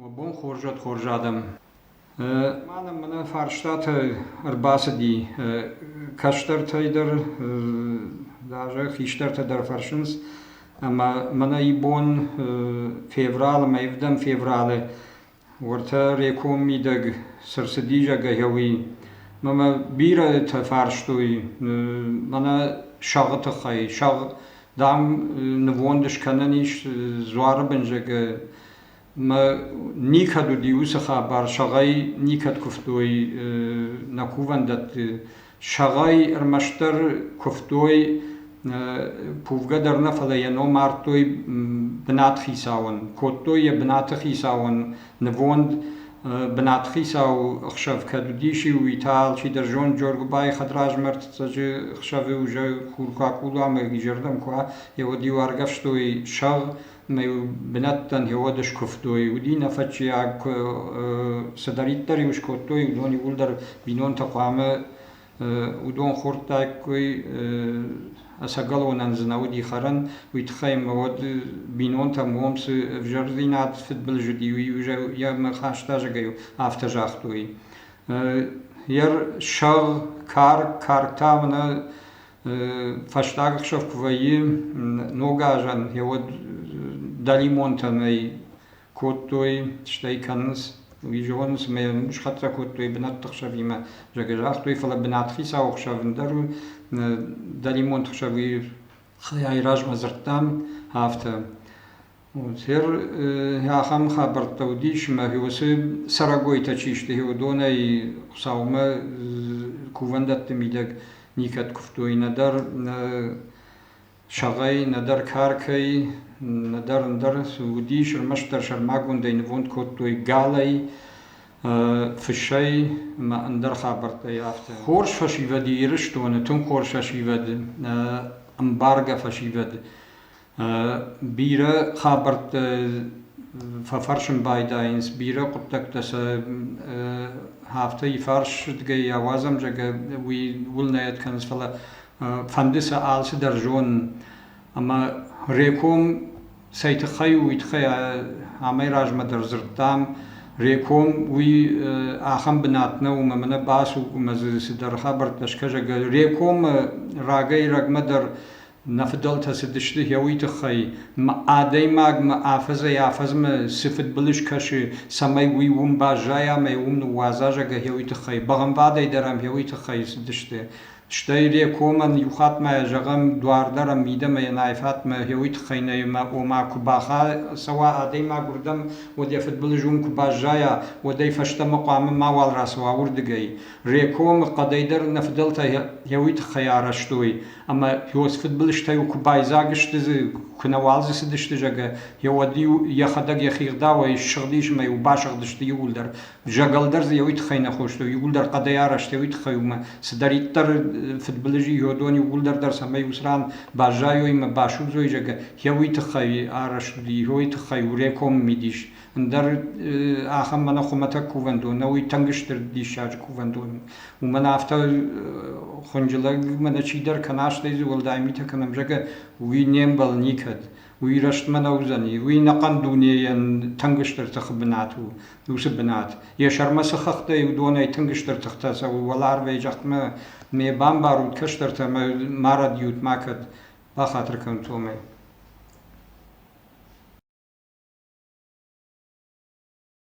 Уӕ бон хорзӕт хорз адӕм! Ма нӕм мӕнӕ фарстатӕ ӕрбацыди. Кӕстӕртӕй дӕр даже хистӕртӕ дӕр фӕрсынц ӕмӕ мӕнӕ ибон февралы, мӕ ивдӕм февралы уӕртӕ реком мидӕг цы рцыди зӕгӕ, уый. Мӕ бирӕтӕ фарстой мӕнӕ сӕгъы тыххӕй. Сӕгъ дам, нывонд скӕнӕн ис Дзуары бынзӕгы мӕ никӕд уыди уыцы хабар, сӕгъӕй никӕд куывтой нӕ кувӕндӕтты. Сӕгъӕй ӕрмӕстдӕр куывтой кувгӕ дӕр нӕ, фӕлӕ йӕ ном ардтой бынат хицауӕн. Кодтой йӕ бынаты хицауӕн Нывонд бынатхицау ӕхсӕв кӕд уыдис, уый та алчидӕр зонд Джоргуыбайы хӕдразмӕрдцӕджы хсӕвы уже хуркакул ӕмӕ изӕрдӕм куы еуӕд-иу аргӕвстой сӕгъ ӕмӕ бынӕттӕн еуӕд скуывтой. Уыди нӕфӕтчиаг, куы цыдӕриддӕр-иу скодтой, уыдон иууылдӕр бинонтӕ хъуамӕ уыдон хордтаиккой ӕцӕгӕлонӕн дзы нӕ уыди хӕрӕн, уый тыххӕй мӕ уӕд бинонтӕм уым цы ӕвзӕрдзинад фыдбылыз уыди, уый йӕ хастазӕгӕй афтӕ загътой. Йӕ сӕгъ, карк, картӕ мӕнӕ фӕстаг ӕхсӕв куы вӕййы ногазӕн, йӕ уӕд дӕлимонтӕ нӕй кодтой, стӕй кӕнынц, уый зонынц ӕмӕ схӕццӕ кодтой бынӕтты хсӕвимӕ, зӕгӕ загътой, фӕлӕ бынатхицауы хсӕв ӕндӕр у, дӕлимонты хсӕв уый хайӕй размӕ дзырдтам, афтӕ. Хер ахӕм хабӕрттӕ уыдис, ӕмӕ уыцы цӕрӕгойтӕ чи сты, уыдонӕй Хуыцаумӕ кувӕндӕтты мидӕг никӕд куывтой, нӕдӕр Сагъӕй, нӕдӕр каркӕй, нӕдӕр ӕндӕр уыдис, ӕрмӕстдӕр сӕрмагондӕй нывонд кодтой галӕй, фысӕй ӕмӕ ӕндӕр хабӕрттӕй афтӕ. Хорз фӕсивӕд Ирыстоны, тынг хорз фӕсивӕд, ӕмбаргӕ фӕсивӕд. Бирӕ хабӕрттӕ фӕфӕрсын байдайынц, бирӕ хъуыддӕгтӕ сӕ афтӕ ифарсгӕйӕ, уазӕмзӕгӕ уый уылнӕйад кӕнынц, фӕлӕ фӕнды сӕ алцыдӕр зонын ӕмӕ Реком цӕй тыххӕй у, уый тыххӕй амӕй размӕ дӕр дзырдтам. Реком уый ахӕм бынат нӕу, ӕмӕ мӕнӕ бацу, ӕмӕ дзы цыдӕр хабӕрттӕ скӕсӕг. Рекомы рагӕй-рӕгмӕ дӕр нӕ фыдӕлтӕ цыдысты гъеуый тыххӕй, ӕмӕ адӕймагмӕ афӕдзӕй-афӕдзмӕ цы фыдбылыз кӕсы, цӕмӕй уый уым баззайа ӕмӕ уым ныууадза, зӕгъгӕ, гъеуый тыххӕй. Бӕгъӕмвадӕй дӕр ӕм гъеуый тыххӕй цыдысты. Стӕй Рекомӕн иухаттмӕ зӕгъӕм, дуар дӕр ӕм мидӕмӕ йӕ найфатмӕ гьеуый тыххӕй нӕ, ома куы бахӕцӕуа адӕймаг уырдӕм, уӕд йӕ фыдбылыз уым куы баззайа, уӕд ӕй фӕстӕмӕ хъуамӕ мауал рацӕуа уырдыгӕй. Рекомы хъӕдӕй дӕр нӕ фыдӕлтӕ гьеуый тыххӕй арӕзтой, ӕмӕ Иос фыдбылызтӕ-иу куы байдзаг сты дзы, куы нӕуал дзы цыдысты, зӕгъгӕ, йӕ уӕд-иу йӕхӕдӕг йӕхи гъдауӕй ссыгъдис ӕмӕ-иу басыгъдысты иууылдӕр, Зӕгӕл дӕр дзы еуи туххӕй нӕ хостой, иууылдӕр хъӕдӕй арӕзт еуи туххӕй ӕма цидӕриддӕр фидбилизи иодони иууылдӕр дӕр сӕмӕй ус ран баззайой ӕма басудзой, зӕгӕ, еуи туххӕй арӕзт уди, еуи туххӕй уреком мидис. Ӕндӕр ахӕм мӕнӕ хумӕтӕг кувӕндон нӕ уй тынг стыр диссаджы кувӕндон. Уымӕн афтӕ хунджылӕг мӕнӕ чидӕр кӕна, стӕй дзы уӕлдай митӕ кӕнӕм, зӕгӕ, уи не мбӕл никӕд. уый рӕстмӕ нӕ уыдзӕни. Уый ӕнӕхъӕн дунейӕн тынг стыр тыхы бынат у, уыцы бынат. Йӕ сӕрмӕ цы хӕхтӕй уыдонӕй тынг стыр тыхтӕ цӕуы, уӕларвӕй зӕхмӕ не бамбарут кӕстӕртӕ ӕмӕ марӕд-иут макӕд, бахатыр кӕнут сомӕй.